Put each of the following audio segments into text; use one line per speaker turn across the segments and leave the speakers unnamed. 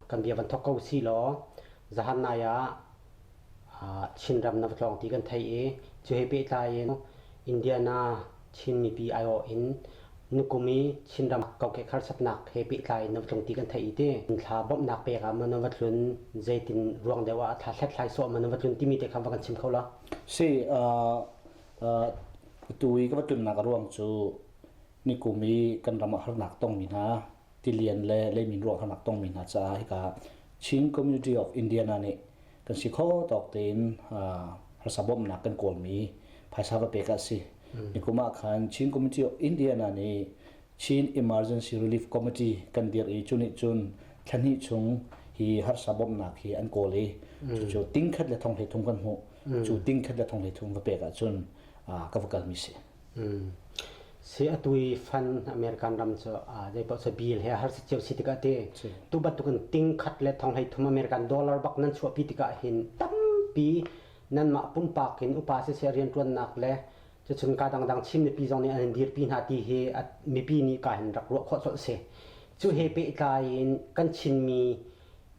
Kan bia van thawk ko usihlaw zahan nai ah Chinram na va tlawng ti kan thei i cu he pehtlai in Indiana Chin mipi aiawh in nukum i Chinram kokek harsatnak he pehtlai in na va tlung ti kan thei i ti. Thla bawmhnak pek ah maw na va tlun zeitin ruang deuh ah thla hlathlai sawh maw na va tlun timi te kha va kan chim kho lo. Si,
tu i ka va tlunnak ruang cu Nikum i kan ram a harnak tongmi hna, tilian le leimin ruah harnak tongmi hna caah hika Chin Community of Indiana nih kan si kho tawk tein harsa bawmhnak kan kawlmi phaisa va pek a si. Nikum ah khan Chin Community of Indiana nih Chin Emergency Relief Committee kan dirh i cu nih cun thlahnih chung hi harsa bawmhnak hi an kawl i cucu tingkhat le thonghlei thum kan hmuh cu tingkhat le thonghlei thum va pek ahcun ka va kalmi si.
Si a tui fan American ram cu zeipaoh cu bill he har si cio si tikah ti tu bantuk in ting khat le thong hlei thum American dollar bak nan chuahpi tikah hin tampi nanmah pumpak in upa siseh rianṭuannak le cucun kaa dangdang Chin mipi zong nih an in dirpi hna ti hi mipi nih kaa hin rak ruah khawh colh si. Cu he pehtlai in kan Chinmi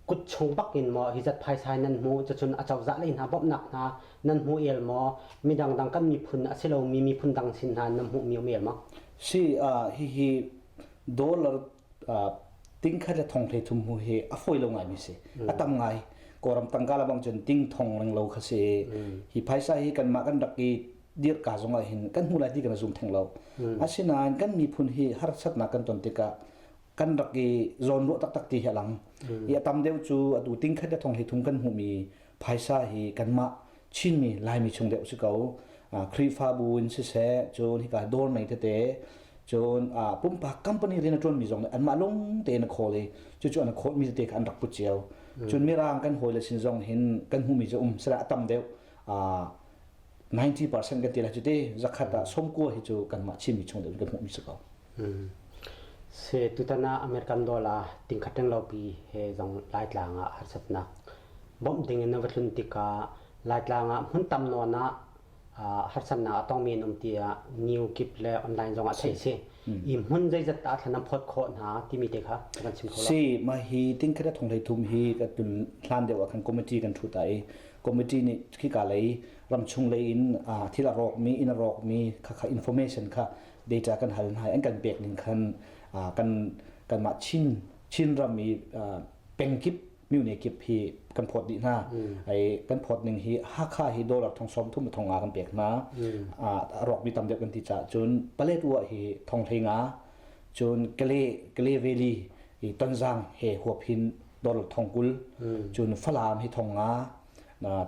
kut chung bakin maw hi zat phaisai nan hmu cun acozah lei hna bawmhnak hna nan hmu el maw midang dang kan miphun a si lomi miphun dang sin hna nan hmuh mi um el maw si uh,
hihi dollar uh, tingkhat le thong thei thum hu hi a foi lo ngai mi si mm. a tam ngai koram tangka la bang cun ting thong leng lo kha si mm. hi phaisa hi kan ma kan rak i dir ka zong hin kan hmu lai ti kan zum theng lo mm. asinain kan miphun hi harsatnak kan ton tikah kan rak i zawnruah taktak ti hi a lang i a tam deuh cu atu ting khat thong hi thung kan hmuhmi phaisa hi kanmah chinmi laimi chung deuh si ko khrihfabu in siseh cun hika dawr mei tete cun pumpak company rian a ṭuanmi zong nih anmah lung tein a khawl i cucu an a khawlmi tete kha an rak put cio cun mirang kan hawile sin zong hin kan hmuhmi cu um sila a tam deuh 90% kan ti lai cuti zakhat ah somkua hi cu kanmah chinmi chung deuh kan hmuhmi si ko
Se tutan ah American dollar tingkhat ringlopi he zong Laitlang ah harsatnak bawmh ding in a va tlun tikah Laitlang ah hmun tam nawn ah harsatnak a tongmi an um tiah New Gip le online zong ah theih a si. I hmun zeizat dah thlan an phawt khawh hna timi te kha kan chim kho Si, ma hi tingkhat
thong hlei thum hi ka tun hlan deuh ah khan committee kan thut ai. Committee nih khika lei ram chung lei in thil a rawkmi, inn a rawkmi, khakha information kha data kan hal hna an kan pek ning khan kan kanmah Chin Chin ram i pengkip myone kip hi kan phawt dih hna ai kan phawt ning hi Hakha hi dollar thong som thum thong a kan pek hna a rok mi tam deuh kan ti cha cun Paletwa hi thong hlenga cun Kale Kale Valley i Tonzang he huap hin dollar thong kul cun Falam hi thong nga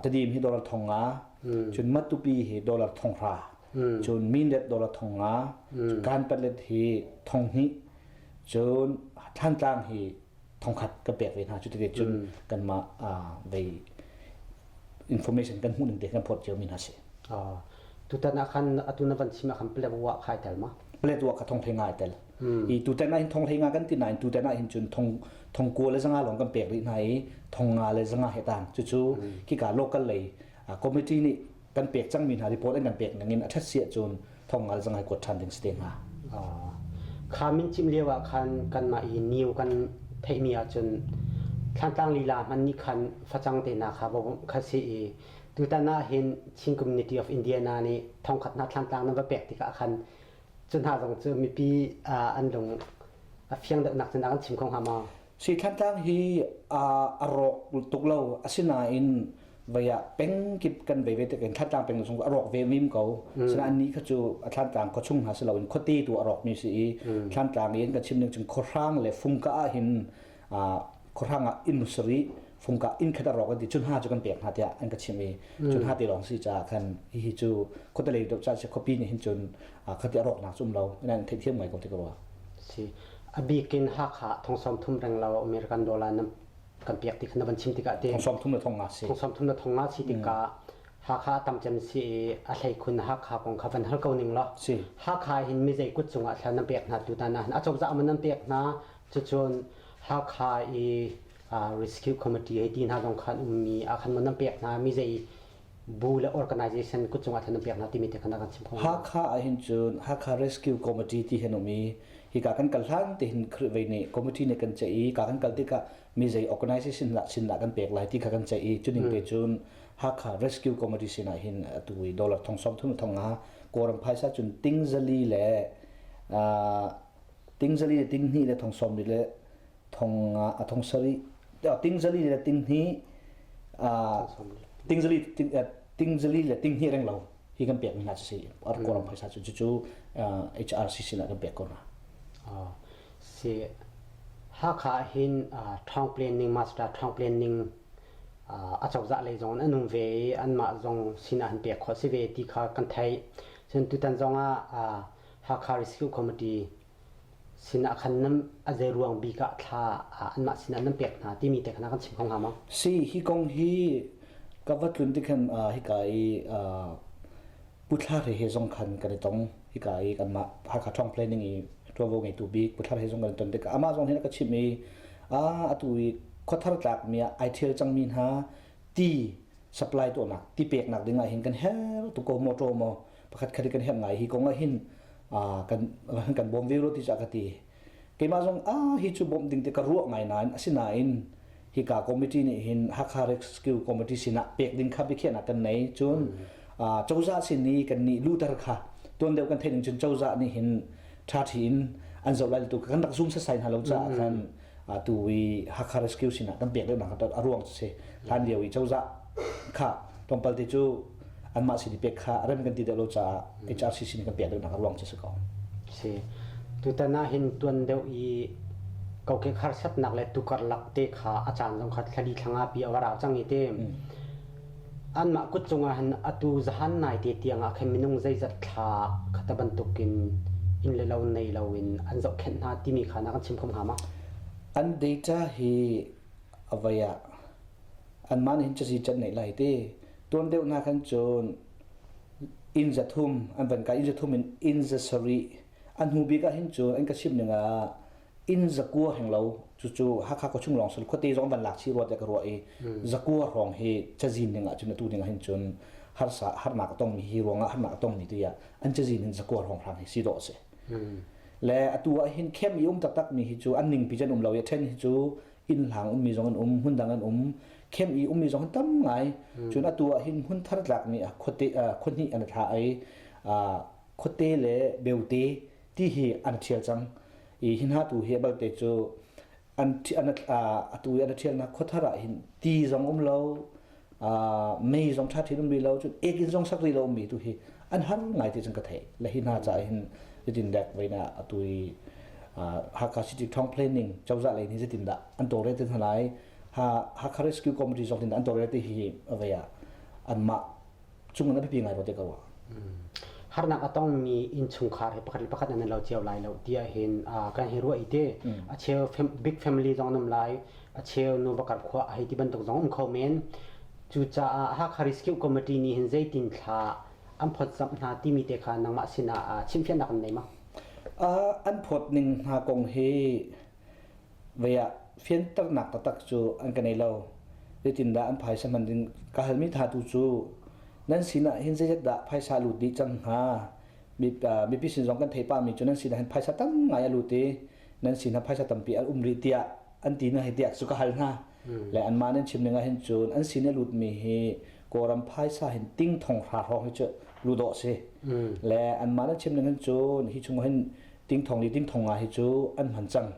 tadim hi dollar thong nga cun matupi hi dollar thong hra cun minlet dollar thong nga kan patlet hi thong hnih cun thlantlang
hi thong khat ka pek ve hna cu tike cun kan ma vei information kan hmuh ning te kan phot cio min ha si tutan akhan atuna van chima kham plet wa khai tel ma plet wa ka thong thai ngai tel i tutan ah hin thong hlei nga kan ti nain tutan ah hin
cun thong thong kua le zanga lawng kan pek rih hna i thong nga le zanga he tan cucu kika local lei committee nih kan pek cangmi hna report an kan pek ning in a ṭhat si ahcun thong nga le zanga kuat ṭhan ding si te hnga kha min chim lio
ah khan kanmah i niu kan theihmi ahcun thlantlang lila hman ni khan facang te na kha bawm kha si i tutan ah hin Chin Community of Indiana nih thongkhat na thlantlang na va pek tikah khan cu hna zong cu mipi an lung a fiang deuhnak cu an chim kho hnga maw? Si Thantlang hi a rawk tuk
lo, asinain vei ah peng kip kan vei ve tik in Thantlang peng zung a rawk ve mim ko. Asinain ni kha cu Thantlang khuachung hna si loin khuate tu a rawkmi si i Thantlang i an kan chim ning cun khuahrang le fungka ah hin khuahrang ah inn sarih fungka inn khat rawk an ti cun ha cu kan pek hna tiah an ka chimh i cun ha te lawng si caah khan hihi cu
khuatalei deuh ca si khuapi nih hin cun khati a rawknak cum lo ina theithiam ngai ko ti ka ruah si a bik in hakha thongsawm thum reng lo american dollar na kan pek ti khan na van chim tikah
te thongsawm thum le thong nga si thongsawm thum le thong nga si tikah hakha tam cem si i a hlei khun
hakha kong kha van hal ko ning lo hakha hin mi zei kut cungah thlan nan pek hna tu ta na a cozah man nan pek hna Cucun Hakha i Rescue Committee ei ti hna zong kha an ummi ahkhan maw nan pek hna mi zei bu le organization kutcung ahkhan nan pek hna timi te khan
kan chim kho. Hakha ahhin
cun Hakha
Rescue Committee ti hi an um i hika kan kal hlan tehin Khrih vei nih committee nih kan ceih i ka kan kal tikah mi zei organization dah chindah kan pek lai ti kha kan ceih i cuning te cun Hakha Rescue Committee sinah hin atu i dollar thong sawm thum le thong nga Kawlram phaisa cun tingzali le tingzali le tinghnih le thong sawm rit le thong nga a thong sarih tingzali le tinghnih tingzali tingzali le tinghnih reng lo hi kan pekmi hna si ar koram phaisa cu cucu HRC sinah kan pek ko hna
si Hakha hin thong planning master thong planning acozah lei zong an um ve i anmah zong sinah an pek khawh si ve ti kha kan theih cun tutan zong ah Hakha Rescue Committee sin ah khan nan a zei ruang bik ah thla anmah sin ah nan pek hna timi te kha kan chim kho hnga ma? Si, hi kong hi
ka va tlun tikhan hika i Pu Thlar he he zong khan kan i tong hika i kanmah Hakha Tawng Planning i ṭuanvo ngeitu bik Pu Thlar he zong kan i ton tikah amah zong hin a ka chimh i atu i khuathar tlakmi ah ai ṭhial cangmi hna ti supply tuahnak ti peknak ding ah hin kan her tuk ko maw ṭaw maw pakhatkhat kan herh ngai hi kong ah hin kan bawm ve rua ti cah ka ti keimah zong ah hi cu bawmh ding te ka ruah ngai nain asinain hi ka committee nih hin Hakha Rescue Committee sinah pek ding kha biakhiahnak kan nei cun cozah sin i kan nih luter kha tuan deuh kan theih ning cun cozah nih hin ṭha ṭhi in an zoh lai tu kan rak zum sasai hna lo caah khan atu i Hakha Rescue sin ah kan pek deuh nak a ruang cu si hlan lio i cozah kha tlawmpal te cu anmah sin i pek kha rem kan ti deuh lo caah HRCC nih kan pek deuh nak a ruang cu si ko si
tutan ah hin tuan deuh i kokek harsatnak le tukar lak te kha a caan zong kha thla li thlang ah pi a va rau cang i ti Anmah kut cungah hin atu zahan naite tiangah khan minung zeizat thla khata bantukin inn le lo nei loin an zohkhenh hna timi kha na kan chim khom hnga ma? An data
hi a vai ah anmah nih hin cusi can neih lai ti. Tuan deuh hna khan cun inn zathum an van kai inn zathum in inn za sarih an hnu bik ah hin cun an ka chimh ningah inn zakua heng lo cucu Hakha khuachung lawng sul khuate zong van lak chi ruat ka ruah i zakua hrawng hi cazin ding ahcun tu ding ahhin cun harsa harnak a tongmi hi ruangah harnak a tongmi tiah an cazin in zakua hrawng hram hi si dawh a si le atu ahhin khem i um taktak mi hi cu an ningpi can um lo i ṭhen hi cu innhlang ummi zong an um hmun dang an um khem i ummi zong tam ngai cun atu ahhin hmun thar tlakmi khuate khonhnih an tla i khuate le beute ti hi an ṭhial cang i hi hna tu hi balte cu an an atu i an ṭhialnak khuathar ah hin ti zong um lo mei zong ṭha ṭhin um rih lo cun ek in zong sak rih lo mi tu hi an har ngai ti cun ka theih le hi hna ca hin zitin dek vein a atu i Hakha City Town Planning cozah lei nih zitin dah an tawre te hna lai ha Hakha Rescue Committee zong tin an tawre te hi avei ah anmah cungin a biapi ngai ko te ko harnak
a tongmi innchungkhar he pakhat le pakhat nan lo cio lai lo tiah hin kan hi ruah i te a cheu big family zong nam lai a cheu nu bakar khua a hei ti bantuk zong um kho men cucaah Hakha Rescue Committee nih hin zeitin thla an phot samh hna timi te kha nangmah sinah chimfiannak an nei ma an
phot ning hna kong hi vei ah fianternak taktak cu an ka nei lo. Zeitindah an phaisa hman ding ka halmi tha tu cu nan sinah hin zeizat dah phaisa lut dih cang hnga mipi sin zong kan theipami cu nan sinah hin phaisa tam ngai a lut i nan sinah phaisa tampi an um rih tiah an ti na hei tiah cu ka hal hna. le anmah nih an chim ning ahhin cun an sin i lutmi hi Kawlram phaisa hin ting thong hra hrawng hi cu lut awh si le anmah nih chim ning hin cun hi chung hin ting thong li ting thong ah hi cu an hman cang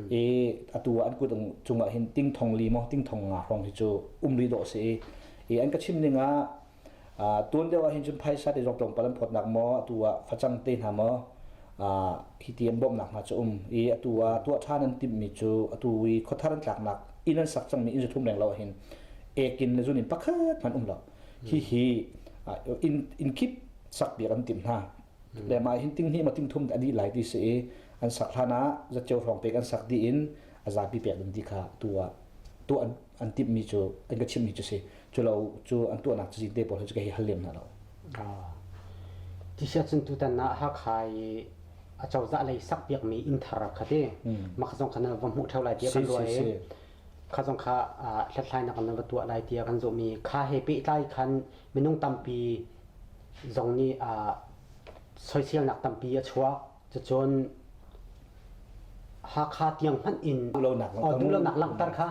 i atu ah an kut cung ah hin ting thong li maw ting thong nga hrawng hi cu um rih dawh si i i an ka chim ning ah tuan deuh ahhin cun phaisa te zong tlawmpal an phawtnak maw atu ah facang te hna maw hi ti an bawmnak hna cu um i atu ah tuah ṭhan an timhmi cu atu i khuathar an tlaknak inn an sak cangmi inn zu thum reng lo ahhin ek in na zun in pakhat hmanh um lo hihi inn inn kip sakpiak an timh hna le mah hin ting hi ma ting thum a dih lai ti si i an sak hlan ah zatceo hrawng pek an sak dih in a zapi pek ding ti kha tu ah tuah an timhmi cu an ka chimhmi cu si cu lo cu an tuahnak cu zite pawl cu ka hi hal lem na lo
t-shirt cun tutan na hakha i a cozah lei sak piakmi inn thar kha ti mah ka zong kha na va hmuh theo lai tiah kan ruah i kha zong kha hlathlai na kan va tuah lai tiah kan zohmi kha he pehtlai khan minung tampi zong nih soiselnak tampi a chuak Cacun Hakha tiang hmanh in duhlonak
duhlonak langhter kha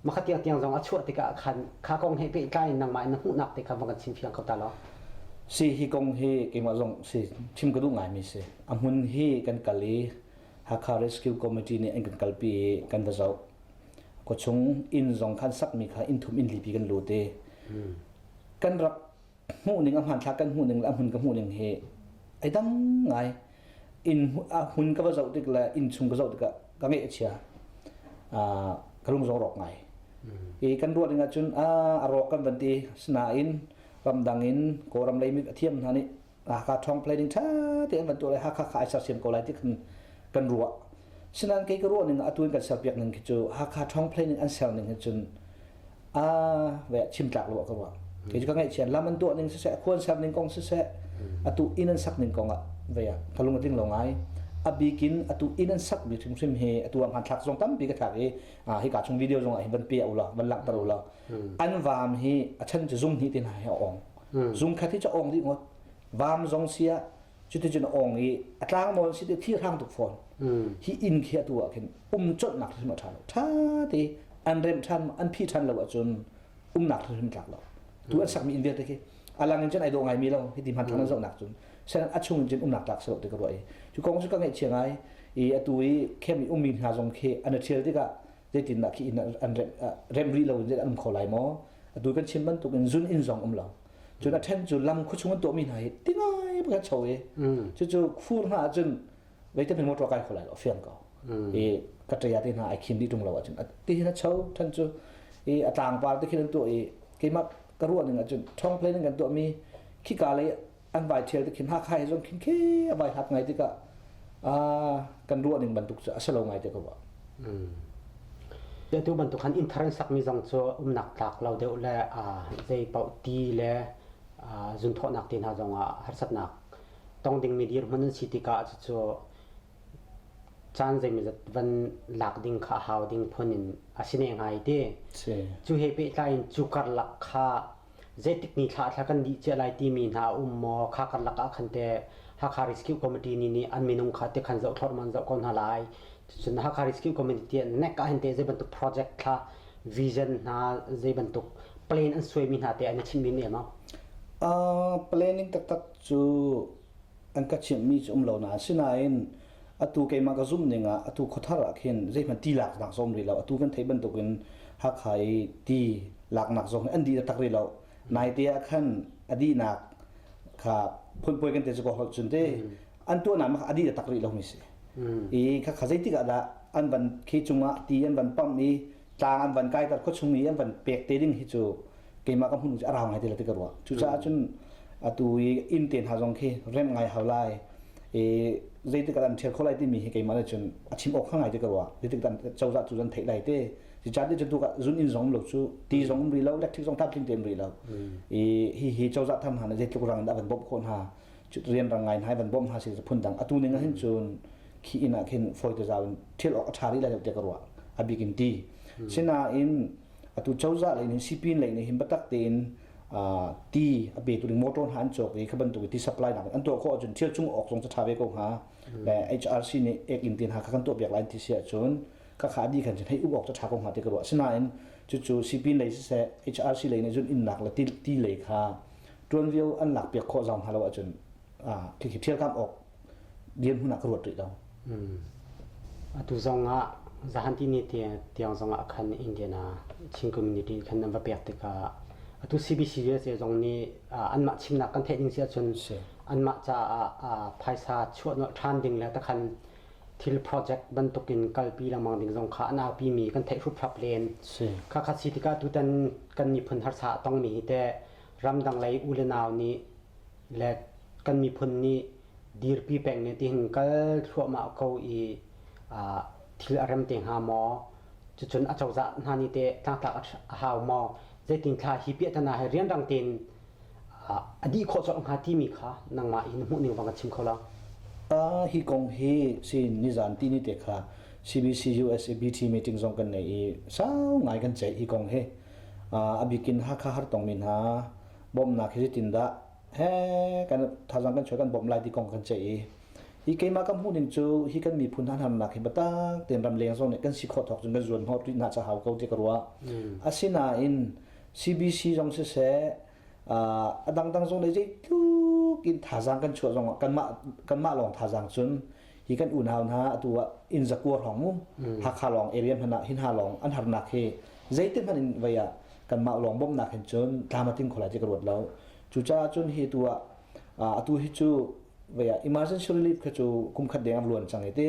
makha tiang tiang zong a chuah tikah khan kha
kong he pehtlai in nangmah in na hmuhnak te kha va kan chim fiang ko ta law
si hi kong hi keimah zong si chim ka duh ngaimi si a hmun hi kan kal i Hakha Rescue Committee nih an kan kalpi i kan va zoh kawchung inn zong khan sakmi kha inn thum inn lipi kan lut i kan rak hmuhning a hmanthlak kan hmuhning le a hmun ka hmuhning hi ai dam ngai in hmun ka va zoh tik le inn chung ka zoh tikah ka ngeih a chia ka lung zong rawk ngai i kan ruah ding ahcun a rawk kan van ti sinain ramdang in kawlram lei mit a thiam hna nih Hakha Tong planning ṭha te an van tuah le Hakha kha ai sersiam ko lai ti kan kan ruah sinain kei ka ruah ning atuin kan serpiak ning khi cu Hakha Tong planning an ser ning hi cun a ve chimtlak lo ka wa ke ju ka ngaihchian lam an tuah ning siseh khuan ser ning kong siseh atu in an sak ning kong ah ve ah ka lung atling lo ngai abikin atu in an sak bi hrim hrim hi atu ang han thlak zong tampi ka thlak i hi ka chung video zong ah hin van pe ula van lang tar ula an vam hi a chan chu zung hi tin hai a ong zung khat hi cha ong di ngot vam zong sia cuticun a ong i a tlangmaw si ti thirhrang tuk fawn hi inn khi atu ah khin um colhnak hrim a ṭha lo ṭha te an remh ṭhan an phi ṭhan lo ahcun umnak hrim tlak lo tu an sakmi inn vialte khi a lang in cun ai daw ngaimi lo hi ti hman thang an zohnak cun sen a chung in cun umnak tlak salo ti ka ruah i cu kong cu ka ngaih chiang ai i atu i khem i ummi hna zong khi an a ṭhial tikah zeitindah khi inn an rem rih lo in an um kho lai maw atu kan chim bantukin zun inn zong um lo cun a ṭhen cu lam khuachung an tuahmi hna hi tingai bak an cho i cucu khur hna ahcun veitan hi motor kai kho lai lo a fiang ko i ka ṭaya te hna ai khim dih ṭung lo ahcun a ti hin a cho ṭhen cu i a tlangpar te khin an tuah i keimah ka ruah ning ahcun ṭhawng plane in kan tuahmi khika lei an vai ṭhial te khin hakha he zong khin khe a vai hlat ngai tikah kan ruah ning bantuk cu a si lo ngai te ko ba Atu bantuk khan inn thar in sakmi zong cu umnak tlak lo deuh le zeipaoh ti le zunthawhnak ti hna zongah harsatnak
tong dingmi dirhmun an si tikah cucu caan zeimawzat van lak ding kha a hau ding phun in a si ne hnga i ti. Cu he pehtlai in cu karlak kha zeitik ni thla thla kan dih cia lai timi hna a um maw kha kan lakah khan teh Hakha Rescue Committee ni nih an minung kha te khan zoh thlorman zoh ko hna lai
cun Hakha Rescue Committee tiah nek ah hin teh zei bantuk project thla vision hna zei bantuk plan an suaimi hna te an i chimhmi em au Uh, planning taktak cu an ka chimhmi cu um lo na asinain atu keimah ka zumh ning ah atu khuathar ah khin zeihmanh ti laknak zong rih lo atu kan theih bantuk in Hakha i ti laknak zong an dih taktak rih lo naite ah khan a dihnak kha phunpuai kan te cu ko holh cun te an tuahnak mah a dih taktak rih lo mi si i kha kha zeitik ah dah an van khi cung ah ti an van pamh i tlang an van kai kar khuachung i an van pek te ding hi cu keimah ka hmunu a rau ngai ti la ti ka ruah cucaah cun atu i inn te hna zong khi remh ngai hau lai i zeitik an ṭhial kho lai timi hi keimah nih cun a chim awk kha ngai ti ka ruah zeitik an cozah cu an theih lai te ci caan ti cu zun inn zong um lo cu ti zong um rih lo electric zong tlamtling te um rih lo i hi hi cozah tham hna nih zeitluk rang in a van bawmh khawh hna rian rang ngai hna i van bawmh hna si phun dang atu ning ahhin cun khi inn ah khin fawi te zau in thil awk a ṭha rih lai lo tiah ka ruah a bik in ti sinain atu cozah lei nih sipin lei nih hin biatak tein ti a petu ding motor hna an cawk i kha bantuk i ti supply nak an tuah khawh ahcun thil cung awk zong cu ṭha ve ko hnga le HRC nih ek in tin ha kha kan tuah piak lai an ti si ahcun ka kha di khan cun hei uk awk cu ṭha ko hnga ti ka ruah sinain cucu sipin lei siseh HRC lei nih cun innak le ti lei kha ṭuan vio an lak piak khawh zau hna lo ahcun khi khi thil kam awk dirhmun ah ka ruat rih lo. Hmm.
Atu zong ah zahan ti ni tiang zong ah khan Indian ah Chin community khan an va pek tikah atu CBCUS zong nih anmah chimnak kan theih ding si ahcun anmah caah phaisa chuah nolh ṭhan ding le takhan thil project bantuk in kalpi lengmang ding zong kha an aupi mi kan theih hruprap len kha kha si tikah tutan kan miphun harsa a tongmi hi te ramdang lei u le nau nih le kan miphun nih dirpi pek ne tihin kal thluahmah ko i ah thil a rem te hnga maw cucun a cozah hna nih teh tlangtlak a hau maw zeitin thla hi piah tana hi rianrang tein ah a dih khawh colh hnga timi kha nangmah in hmuh ning bang a chim kho lo uh, hi
kong hi si nizan ti ni te kha CBC USABT meeting zong kan nei i sau ngai kan ceih hi kong hi uh, abikin hakha har tong mi hna bawmhnak hi tindah he kan thazang kan chuah kan bawmh lai ti kong kan ceih i hi keimah kan hmuhning cu hi kan miphun hanharnak hi batak ten ram leng zong nih kan si khawh thawk cun kan zuan hngawt rih hna cahau ko ti ka ruah asinain CBC zong siseh a dangdang zong le zeitluk in thazang kan chuah zong kanmah kanmah lawng thazang cun hi kan unau hna atu ah inn zakua hrawng mu hmm. hakha lawng area hman ah hin ha lawng an harnak hi zeite hman in vei ah kan mah lawng bawmnak hin cun tlamatin khola je ka ruat lo cu ca cun hi tu ah atu hi cu vaya emergency relief kha chu kum khat deng luan chang ite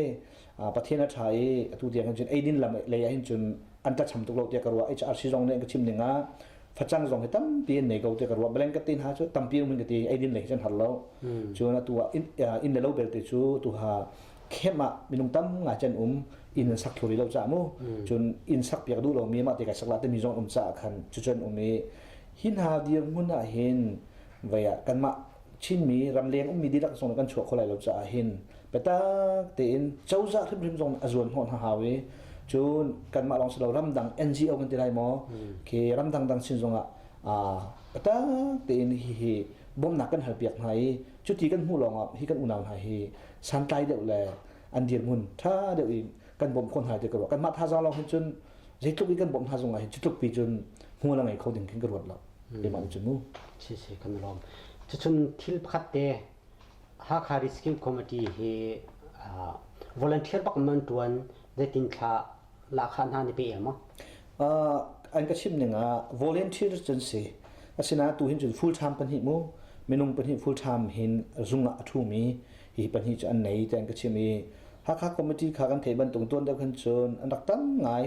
pathian a tha i atu tiang cun eidin lam lei hin cun anta cham tuk lo tia karwa hrong ne ka chim ninga facang zong hi tampi an nei ko tiah ka ruah beleng ka te hna cu tampi um ka te eidin lei cun har lo cun atu ah inn le lo belte cu tu ha khem ah minung tam nga chen um inn an sak hluri lo ca mu cun inn sak piak duh lo mi mah te kai sak la te mi zong um ca khan cu cun um i hin ha dir ngun ah hin vaya kanmah Chinmi ramleng ummi dihlak zong kan chuah kho lai lo caah hin biatak tein cozah hrimhrim zong a zuan hnawh hna hau i cun kanmah lawng si lo ramdang NGO kan ti lai maw khi ramdang dang sin zongah biatak tein hihi bawmnak kan hal piak hna i cuti kan hmuh lawngah hi kan unau hna hi santlai deuh le an dirhmun ṭha deuh i kan bawmh khawh hna ti ka ruah kanmah thazang lawng hin cun zeitluk i kan bawmh hna zongah hin cutluk pi cun hmual a ngei kho ding khin ka ruat lo. Lemang cu mu sisi kan lawm.
Cucun thil pakhat te Hakha Rescue Committee hi volunteer bak man tuan zeitin thla lahkhah hna ni pe el maw?
An ka chimh ning ah volunteer cun si. Asinain tu hin cun full time pahnih mu minung pahnih full time hin zung ah a thumi hi pahnih cu an nei ti an ka chimh i Hakha Committee kha kan theih bantuk tuan deuh khin cun an rak tam ngai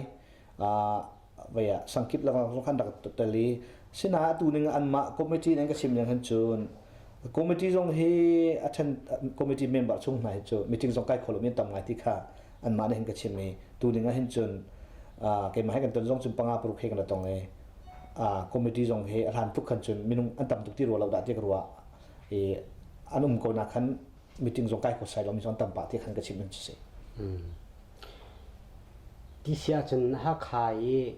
vei ah sangkip lakah khan rak tel i sina atu ning anmah committee nan ka sim ning han cun committee zong hi a ṭhen committee member chung hna hi cu meeting zong kai kholo mi tam ngai ti kha anmah nih hin ka chim i tu ning ah hin cun keimah he kan ton zong cun panga paruk he kan tong i committee zong hi a hlan tuk khan cun minung an tam tuk ti rua lo dah ti ka ruah i an um ko na khan meeting zong kai ko sai lo mi zong tam pah ti khan ka chim hin si. Hmm.
Ti sia cun Hakha i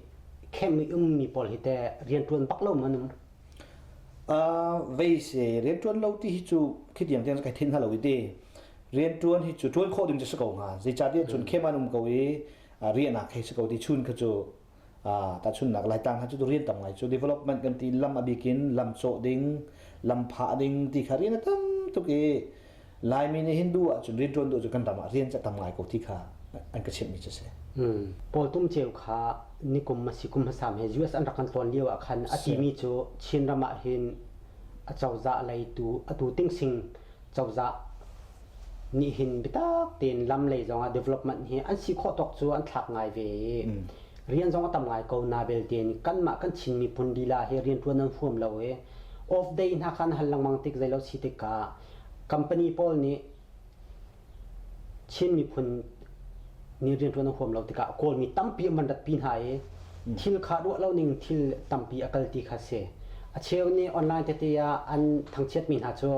camp i ummi pawl hi teh rianṭuan bak lomi an um?
Veise rianṭuan lo ti hi cu khitiang tiang cu kai thenh hna lo i ti. Rianṭuan hi cu ṭuan khawh ding cu a si ko hnga. Zeicahtiah cun camp ah an um ko i riahnak hei si ko ti chun kha cu tahchunhnak laitlang ha cu rian tam ngai cu development kan ti lam a bikin lam cawh ding lam phah ding ti kha rian a tam tuk i Laimi nih Hindu ahcun rian ṭuan duh cu kan ram ah rian cu tam ngai ko ti kha an ka chimhmi cu a si. Paul Tum
Ceu kha nikum a si kum hmasa he US an rak kan tlawn lio ah khan a timi cu Chin ram ah hin a cozah leitu atu tingsing cozah nih hin bitak tein lam lei zongah development hi an si khawh tawk cu an thlak ngai ve i mm. rian zong a tam ngai ko na belte nih kanmah kan chin miphun lila hi rian tuan an huam lo i off day hna khan hal lengmang tik zei lo si tikah company pawl nih Chin miphun ni rianṭuan a huam lo tikah Kawlmi tampi an van ratpi hna i thil kha ruah lo ning thil tampi a kal ti kha a si. A cheu nih online tete ah an thangchiatmi hna cu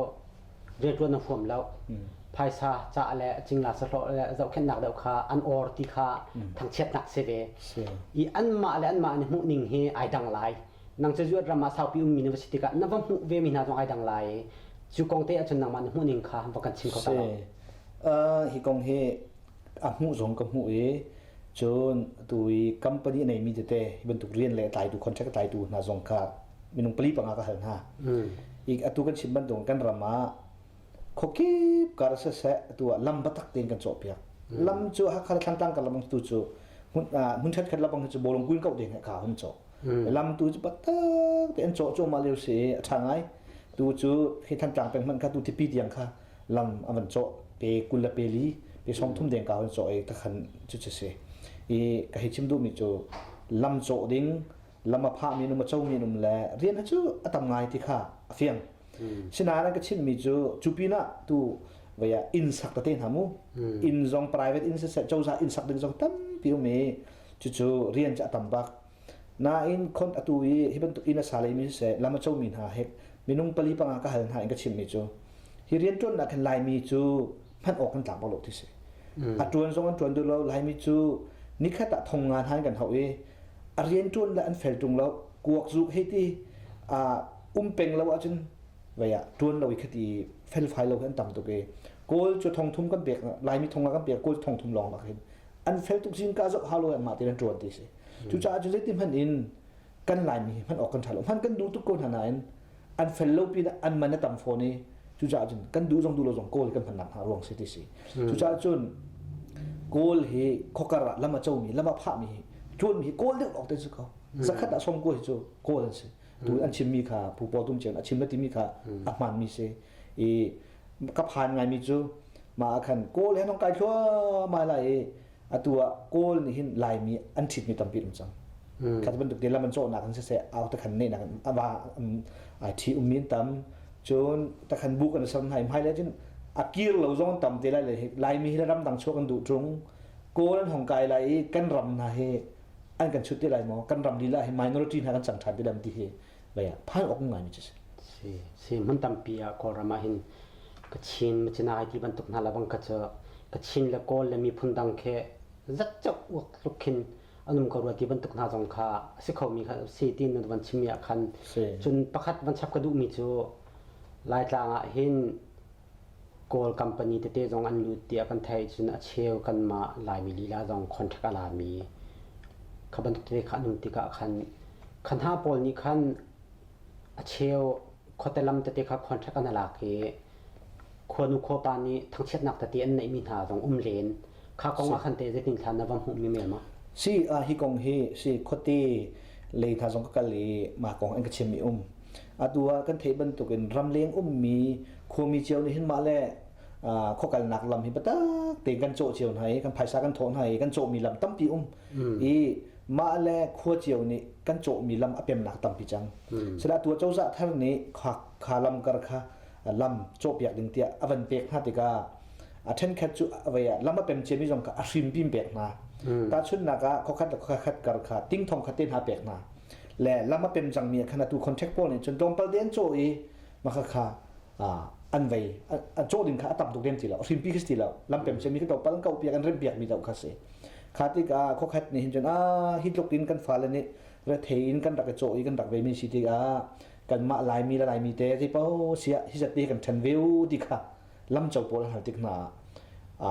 rianṭuan a huam lo. Phaisa ca le cingla sahlawh le zohkhenhnak deuh kha an or ti kha thangchiatnak si ve. I anmah le anmah an i hmuh ning hi ai dang lai. Nang cu Zuat ram ah saupi ummi na va si tikah na va hmuh vemi hna zong ai dang lai i cu kong te ahcun nangmah na hmuh ning kha va kan chim kho ta lo.
Hi kong hi a hmuh zong ka hmuh i cun atu i company a neimi tete hi bantuk rian le tlaitu contract tlaitu hna zong kha minung pali panga ka hal hna i atu kan chim bantuk kan ram ah khawkip kar seseh atu ah lam batak tein kan cawhpiak lam cu hakha thlangtlang kan lam tu cu hmun ṭhetkhat labang cu bolong kuin kau te ne kha hum caw lam tu cu batak te an cawh cu mah leo si a ṭha ngai tu cu hi thantlang peng hmanh kha tu tipi tiang kha lam a van cawh pe kul le peli pe song thum deng ka hun cawh i ka khan cu cu si i ka hei chim duhmi cu lam cawh ding lam a phahmi num a comi num le rian ha cu a tam ngai ti kha a fiang sinain an ka chimhmi cu cu pinah tu vaya inn sak tete hna mu inn zong private inn siseh cozah inn sak ding zong tampi um i cucu rian cu a tam bak Nain khon atu i hi bantuk inn a sa leimi siseh lam a comi hna he minung pali panga ka hal hna in ka chimmi cu hi rianṭuannak hin Laimi cu hman awk kan tlak bak lo ti si. Mm. A ṭuan zong an ṭuan duh lo. Laimi cu nikhat ah thong ngan han kan hau i a rianṭuan le an fel ṭung lo. Kuak zuk hei ti um peng lo ahcun vei ah ṭuan lo i khati felfai lo an tam tuk i kawl cu thong thum kan pek Laimi thong ah kan pek kawl thong thum lawng bak hin an fel tuk zingka zoh hau lo in mah ti an ṭuan ti si. Cucaah cu zeiti hmanh in kan Laimi hi hman awk kan ṭha lo. Hman kan duh tuk ko hna nain an fel lo pinah an man a tam fawn i cucaah cun kan duh zong duh lo zong Kawl kan hman nak hnga ruang si ti si. Cucaah cun Kawl hi khuakar ah lam a comi, lam a phahmi hi ṭuanmi hi Kawl deuh awk te si ko. Zakhat ah som kuai cu Kawl an si. Tu an chimmi kha Pu Paw Tum Cen a chim le timi kha a hmaanmi si. i ka phan ngaimi cu ma ah khan kawl he nong kai thluahmah lai i atu ah kawl nih hin laimi an ṭhitmi tampi um cang hmm. kha bantuk lam an cawhnak in siseh au takhan nenak in ava ai ṭhi um min tam cun takhan bu kan sam hai hmai le cun a kir lo zong tam te lai laimi hi ram dang chuak an duh ṭung kawl an hong kai lai i kan ram hna hi an kan chut ti lai maw kan ram lila hi minority hna kan chang ṭhan ti lam ti hi bei ah phan awk ngai mi si si si
mun tampi ah kawlram ah hin kachin machina ai ti bantuk hna la bang ka ca kachin le kawl le miphun dang khe zat chak uak tluk khin anum ka ruati bantuk hna zong kha si kho mi kha si tin nu van chim ya khan cun pakhat van chap ka duh mi cu laitlang ah hin Kawl company tete zong an lut tiah kan theih cun a cheu kanmah Laimi lila zong contract a lami kha bantuk te kha an um tikah khan kha hna pawl nih khan a cheu khuate lam tete kha contract an lak i khuanu khuapa nih thangchiatnak tete an neihmi hna zong um len kha kong ah khan teh zeitin thlan na va hmuhmi melma si hi kong
hi si khuate lei hna zong ka kal i mah kong an ka chimmi um Atu ah kan theih bantukin ramleng ummi khuami cio nih hin mah le khuakalnak lam hi biatak tein kan cawh cio hna i kan phaisa kan thawh hna i kan cawhmi lam tampi um i mah le khua cio nih kan cawhmi lam a pemnak tampi cang sila tu cozah thar nih kha lamkar kha lam cawhpiak ding tiah a van pek hna tikah a ṭhenkhat cu avei ah lam a pem ciami zong kha a hrimpim pek hna tahchunhnak ah khokhat le khokhat kar kha tingthong kha te hna pek hna le lam a pem cangmi ah khan atu contract pawl nih cun tlawmpal te an cawh i maka kha an vei a cawh ding kha a tam tuk lem ti lo hrimpi khi ti lo lam pem cemi ka topal an kaupiak an rempiak mi to kha si kha tikah khokhat nih hin cun a hi tluk in kan fale nih rethe in kan rak i cawh i kan rak vemi si tikah kan mah laimi le laimi te ti po sia hi zati kan ṭhen ve u ti kha lam co pawl har tik hna a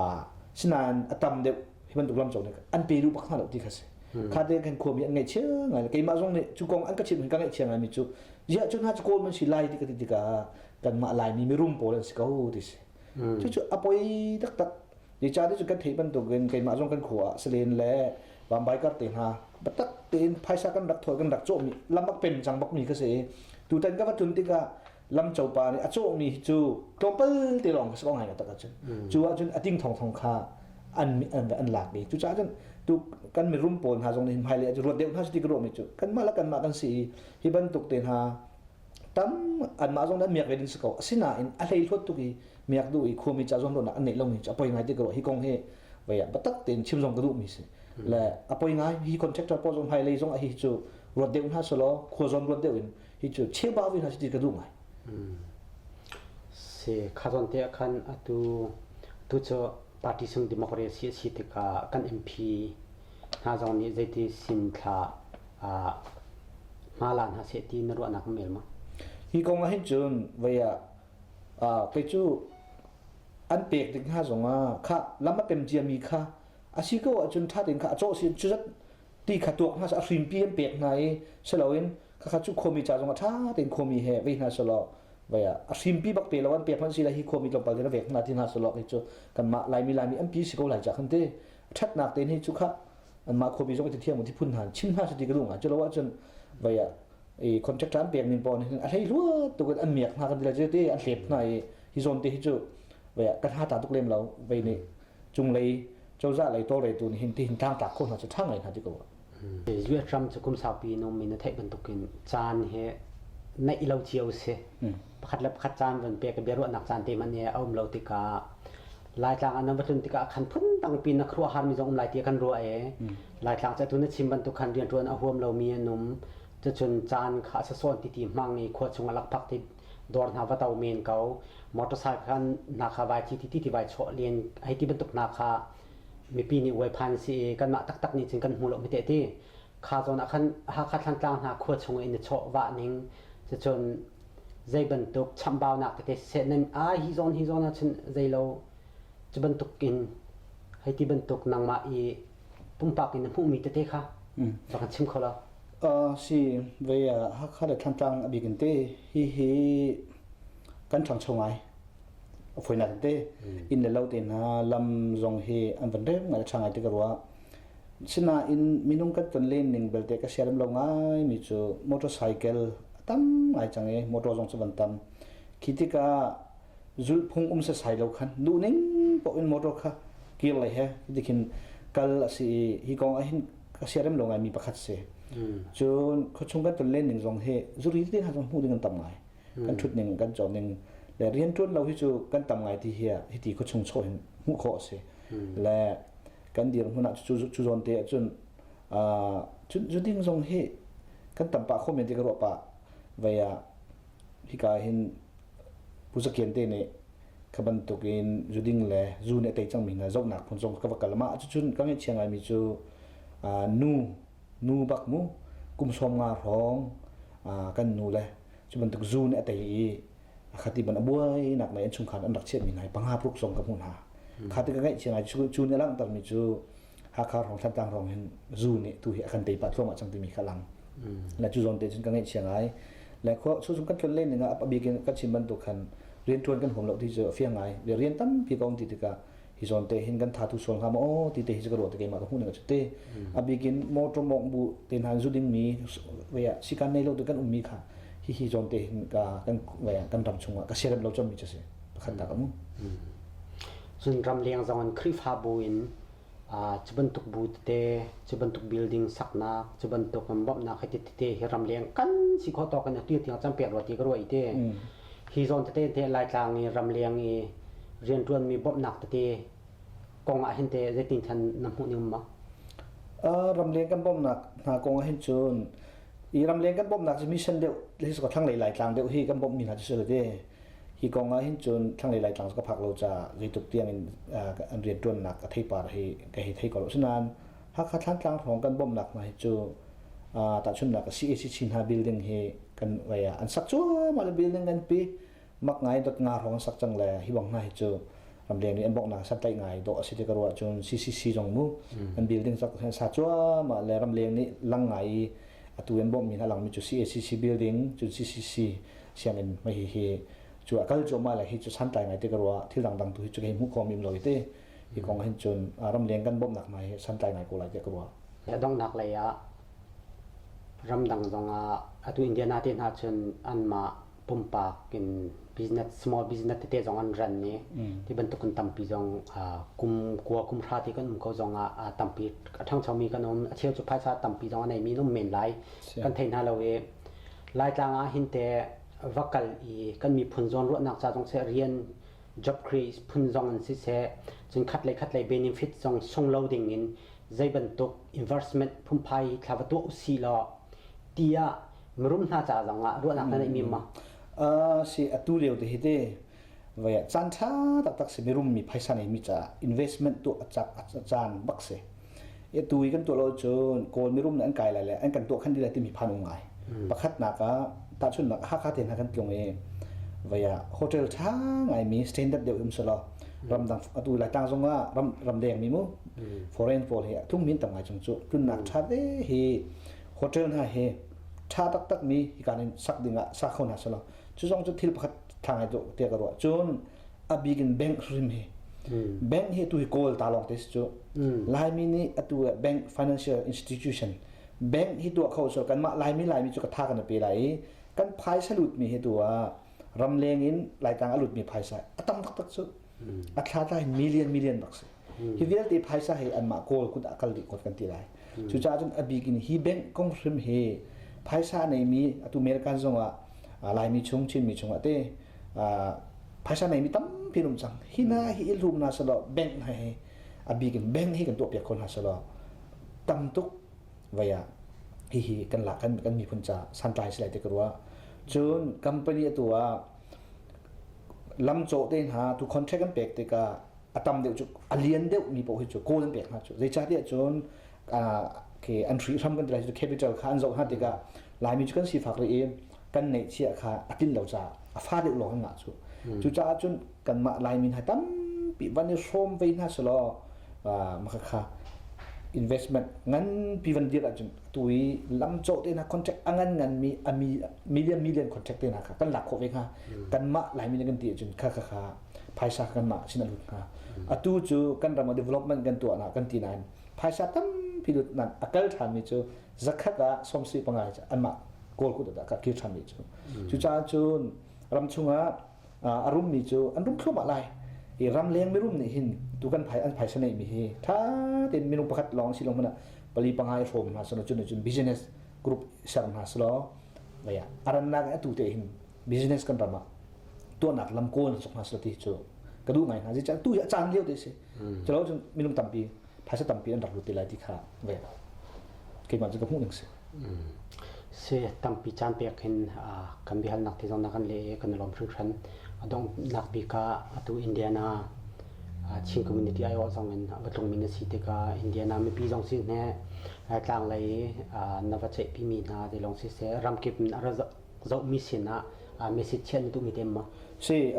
sinain a tam deuh hi bantuk lam cawk an pe duh bak hna lo ti kha si hmm. kha te kan khuami an ngaih chia ngai le keimah zong nih cu kong an ka chim ka ngaih chia ngai mi cu ziah cun ha cu kawl man si lai ti ka ti tika kan mah lai mi mirum pawl an si ko ti si hmm. cu cu a poi tak tak di cha ti cu kan thei bantuk in keimah zong kan khua selen le bambai kar te ha batak tein phaisa kan rak thoi kan rak cawh mi lamak pen chang bak mi ka se tutan ka va tun tika lamcopa nih a cawhmi cu tlawmpal te lawng ka si ko ngai lo tak ahcun cu ahcun a ting thongthong kha an an lak i cucaah cun tu kan mirum pawl hna zong nih hmailei ah ruat deuh hna sih ti ka ruahmi cu kanmah le kanmah kan si i hi bantuk te hna tam anmah zong nih miak ve ding si ko asinain a hlei hluat tuk i miak duh i khumi ca zong ruahnak an neih lomi cu a poi ngai ti ka ruah hi kong hi voi ah biatak tein chim zong ka duhmi si le a poi ngai hi contractor pawl zong hmailei zong a hi cu ruat deuh hna selaw khua zawn ruat deuh in hi cu cheuba vi hna ti ka duh ngai
si khazawn te khan atu tu cu party sung democracy a si tikah kan mp hna zong nih zeiti sim thla ma la hna se ti na ruahnak mel ma hi kong ah hin
cun vaya kei cu an pek ding hna zong ah kha lam a pem cia mi kha a si ko ahcun ṭha tein kha a cawh si cu zat ti kha tuah has a hrinpi an pek hna i si loin khakha cu khomi ca zong a ṭha tein khomi he vei hna selaw vai ah a hrimpi bak pe lo an pek hmanh si la hi khomi tlawmpal tiin a vek hna ti hna selaw kei cu kanmah laimi laimi an pi si ko lai cah kan ti ṭhatnak tein hi cu kha anmah khomi zong i thiam uti phun hna chim hna sati ka dung ah cu lo ahcun vai ah i contract an pek ning pawn hin a hlei luat tuk in an miak hna kan ti le ti an hlep hna i hi zawn te hi cu vai ah kan ha ta tuk lem lo vai nih cunglei cozah lei tawlreitu nih hin tihin thang tak khawh hna cu ṭhang ngai hna ti ko US ram
cu kum saupi in ummi na theih bantukin caan hi neih lo cio a si pakhat le pakhat caan van pek biaruahnak caan te man hi a um lo tikah laitlang an va tlun tikah khan phundang pin na khruah har mi zong um lai tiah kan ruah e laitlang cu atu na chim bantuk khan rianṭuan a huam lomi an um cucun caan kha a sasawn ti ti hmang i khua chung a lak phak ti dawr hna va to men ko motorcycle khan hna kha vai thi ti ti vai chawh len hei ti bantuk hna kha mipi nih uai phan si i kanmah taktak nih cun kan hmu lo hmete ti kha zawn ah khan Hakha thlantlang hna khua chung in chawh vah ning cun zei bantuk chambaunak tete siseh nan ai hi zawn hi zawn ah cun zei lo cu bantuk in hei ti bantuk nangmah i pumpak in na hmuhmi tete kha rak kan chim kho lo. Uh, si,
ve uh, Hakha le Thantlang abik in te hihi kan ṭhangcho ngai. A foinak in te in le lo te hna lam zong hi an van rem ngai ṭha ngai te ka rua. Sinain minung kan ton len ning belte ka sialam lo ngai mi cu motorcycle tam ngai chang i motor zong cu van tam. Khi tika zulhphung um sasai lo khan duhning poh in motor kha kir lei he ti khin kal a si i hi kong ah hin ka siarem lo ngai mi pakhat si cun khuachung kan ton len ning zong hi zuri te ha zong hmuh ding kan tam ngai kan thut ning kan chon ning le rian tuan lo hi cu kan tam ngai ti hi hi ti khuachung chaw hin hmuh kho a si le kan dir hmun ah cu cu zawn te cun cun zuding zong hi kan tam pa kho men ti ka ruah pa vaya hika ah hin Pu Za Kian te nih kha bantuk in zu ding le zu nih a tei cangmi hna zohnak phun zong ka va kal mah cucun ka ngaihchia ngaimi cu nu nu bak mu kum sawm nga hrawng kan nu le cu bantuk zu nih a tei i a khat i ban a buainak lei an chungkhar an rak chiahmi hna i panga paruk zong ka hmuh hna kha ti ka ngaihchia ngai cu ni a langhtermi cu Hakha hrawng Thlantlang hrawng hin zu nih tu hi a kan teipah thluamah cang timi kha lang na cu zawn te cun ka ngeih chiang ai le khua su sum kan tlon len ning ah a bik in kan chim bantuk khan rian tuan kan huam lo ti cu a fiang ngai le rian tampi ka um ti tikah hi zawn te hin kan tha tu sual ngam o ti te hi
ka ruah te keima ka hmuh ning a te a bik in motor mong bu te nan zu ding mi vaya sikan nei lo tu kan um mi kha hi hi zawn te hin ka kan vaya kan ram chungah ka serem lo chom mi cha si pakhatnak um cun ramleng zong in khrihfabu in cu bantuk bu tete cu bantuk building saknak cu bantuk bawmhnak hiti tete hi ramleng kan si kho tawk in atu tiang cang pek rua ti ka ruai te hi zawn tete te laitlang i ramleng i riantuanmi bawmhnak tete kong ah hin te zeitin than na hmuh ning ma ramleng kan bawmnak hna kong ah hin cun i ramleng kan bawmnak cu mission deuh hi so thang lei laitlang deuh hi kan bawmmi hna cu
si le ti Hi kong ah hin cun thlanglei Laitlang ka phak lo caah zeitluk tiang in an rianṭuannak a theipar hi ka hei thei ko lo. Asinain Hakha Thlantlang hrawng kan bawmhnak hna hi cu tahchunhnak a CAC Chin Hna building hi kan vai ah an sak cuahmah le building nganpi mak ngai dot nga hrawng an sak cang le hi bang hna hi cu ramleng nih an bawmhnak santlaih ngai dawh a si ti ka ruah cun CCC zong mu an building cak an sa cuahmah le ramleng nih lang ngai i atu an bawmhmi hna langmi cu CACC building cun CCC sianginn
mai hi hi cu a kal cuahmah lai hi cu santlai ngai te ka ruah thil dangdang tu hi cu ka him khom im lo hi te hi kong hin cun ram leng kan bawmnak mai hi santlai ngai ko lai te ka ruah donghnak lei ah ramdang zong ah atu indiana te hna cun an mah pumpak in business small business tete zong an ran ni ti bantuk kan tampi zong kum kua kum hra te kan um ko zong ah tampi a thangchomi kan um a cheu cu phaisa tampi zong a nei mi um men lai kan thei hna lo i Laitlang ah hin te va kal i kan miphun zawn ruahnak ca zong seh rian job creates phun zong in siseh cun khat le khat lei benefit zong sung lo ding in zei bantuk investment phunphai thla va tuah usih law ti ah mirum hna ca zong ah ruahnak na neih mi ma? Uh, si atu
lio te hi te vaya caan tha taktak si mirum mi phaisa nei mi ca investment tu a cak a caan bak si Atu i kan tuah lo cun Kawl mirum nih an kai lai le an kan tuah khan dih lai timi phan um ngai. Hmm. Pakhatnak ah tahchunhnak Hakha te hna kan tlung i vai ah hotel ṭha ngaimi standard deuh um selaw hmm. ramdang atu laitlang zong ah ram ramdeng mi mu hmm. foreign pawl hi tlung min tam ngai chung cu tlunnak ṭha te hi hotel hna hi ṭha taktak mi hikan in sak ding ah sa kho hna selaw cu zong cu thil pakhat tha ngai tu te ka ruah cun a bik in bank hrim hi bank hi tu hi kawl ta lawng te si cu laimi nih atu ah bank financial institution bank hi tuah kho so kan mah laimi laimi cu ka tha kan pe lai i kan phaisa lut mi hi tu ah ramleng in laitang a lut mi phaisa a tam tak tak cu a thla ta hi million million bak si Hi vialte phaisa he anmah kawl kut ah kal dih kot kan ti lai. Cucaah cun a bik in hi bank kong hrim hi phaisa neimi atu American zongah Laimi chung Chinmi chungah te phaisa neimi tampi rum cang hi hna hi i hlum hna selaw bank hna hi a bik in bank hi kan tuah piak kho hna selaw tam tuk vai ah hihi kan la kan kan miphun ca santlai silai te karua cun company atu ah lam cawh te hna tu contract kan pek tikah a tam deuh cu a lian deuh mi paoh hi cu kawl an pek hna cu zeicahtiah cun ke an hri hram kan ti lai cu capital kha an zoh hna tikah laimi cu kan sifak rih i kan ngeihchia kha a tlin lo caah a fa deuh lawng an ngah cu cucaah cun kanmah laimi hna tampi van i hrawm ve hna selaw maka kha investment nganpi van dir ahcun tu i lamcawh te hna contract a ngan ngan mi a million million contract te hna kha kan lak khawh ve hnga kanmah laimi nih kan ti ahcun kha kha kha phaisa kan mah chin a lut hna atu cu kan ram development kan tuah na kan ti nain phaisa tampi lut nan a kal than mi cu zakhat ah somsi panga an mah goal kut ah ka kir than mi cu cu caan cun ram chungah a rum mi cu an rum thluamah lai i ram leng mi rum nih hin tu kan an phaisa nei mi hi tha ten minung pakhat long si long mana pali pangai hrom ma sono chun chun business group ser ma slo ya aranna atu te hin business kan ram ah tuahnak lam kawl suk hna sila ti cu ka duh ngai hna zi tu a caan lio te si calo cun minung tampi phaisa tampi an rak lut te lai ti kha ve keimah cu ka hmuh ning si se tampi caan pek hin kan
bihal nak ti zong na kan le kan lom hrin hran adong nak bi ka atu indiana Chin community ai o zong in batlung min si te ka indiana mi pi zong sin ne tlang lei na va che pi mi na de long si se ramkip na zohmi sin ah
message chiah na duh mi te maw? Si,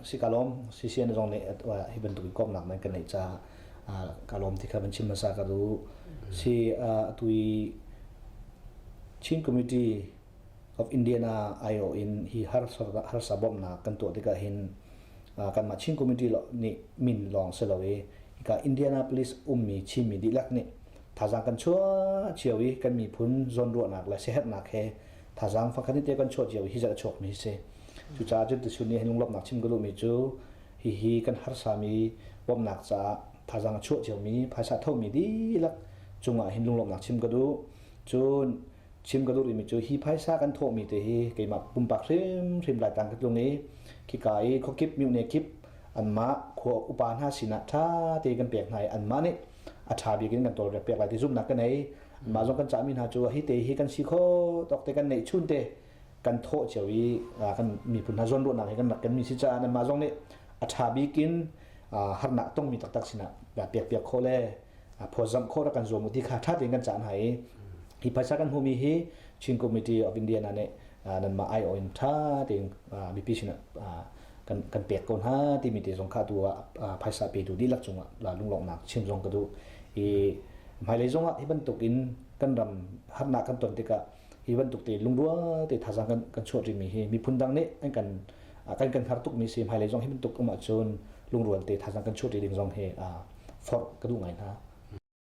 si ka lawm. Si si na zong nih hi bantuk i komnak nan kan neih caah ka lawm ti kha van chim hmasa ka duh. Si, atu i Chin Committee of Indian IO in hi harsa bawmhnak kan tuah tikah hin kanmah Chin Committee nih min lawng si lo i ka Indianapolis ummi Chinmi dihlak nih thazaang kan chuah cio i kan miphun zawnruahnak le siaherhnak he thazaang fangkhat te kan chuah cio hi zat a chuakmi si cucaah cun tisun nih lunglawmhnak chim ka duhmi cu hihi kan harsami bawmhnak caah thazaang a chuah ciomi phaisa thomi dihlak cungah hin lunglawmhnak chim ka duh cun chim ka duh rimi cu hi phaisa kan thawhmi te hi keimah pumpak hrimhrim laitang ka tlung i khika i khuakip mihne kip anmah khua upa hna sinah ṭha te kan pek hna i anmah nih a ṭha bik in kan tawlrel piak lai ti zumhnak kan ngei mah zong kan cahmi hna cu hi te hi kan si kho tawk te kan neih chun te kan thawh cio i kan miphun hna zawnruahnak hi kan rak kanmi si caah mah zong nih a ṭha bik in harnak tongmi taktak sinah piak piak kho le phawtzamh kho rak kan zuam ti kha ṭha tein kan cah hna i hi phaisa kan hmumi hi Chin Committee of India na nih nanmah ai oin ṭha tein mipi sinah kan kan pek ko hna timi te zong kha tu ah phaisa petu dihlak cungah lunglawmhnak chin zong ka duh i hmailei zongah hi bantuk in kan ram harnak kan ton tikah hi bantuk te lungrual te thazang kan kan chuah rimi hi miphun dang nih an kan kan kan har tukmi si hmailei zong hi bantuk um ahcun lungrual te thazang kan chuah ding zong hi forh ka duh ngai hna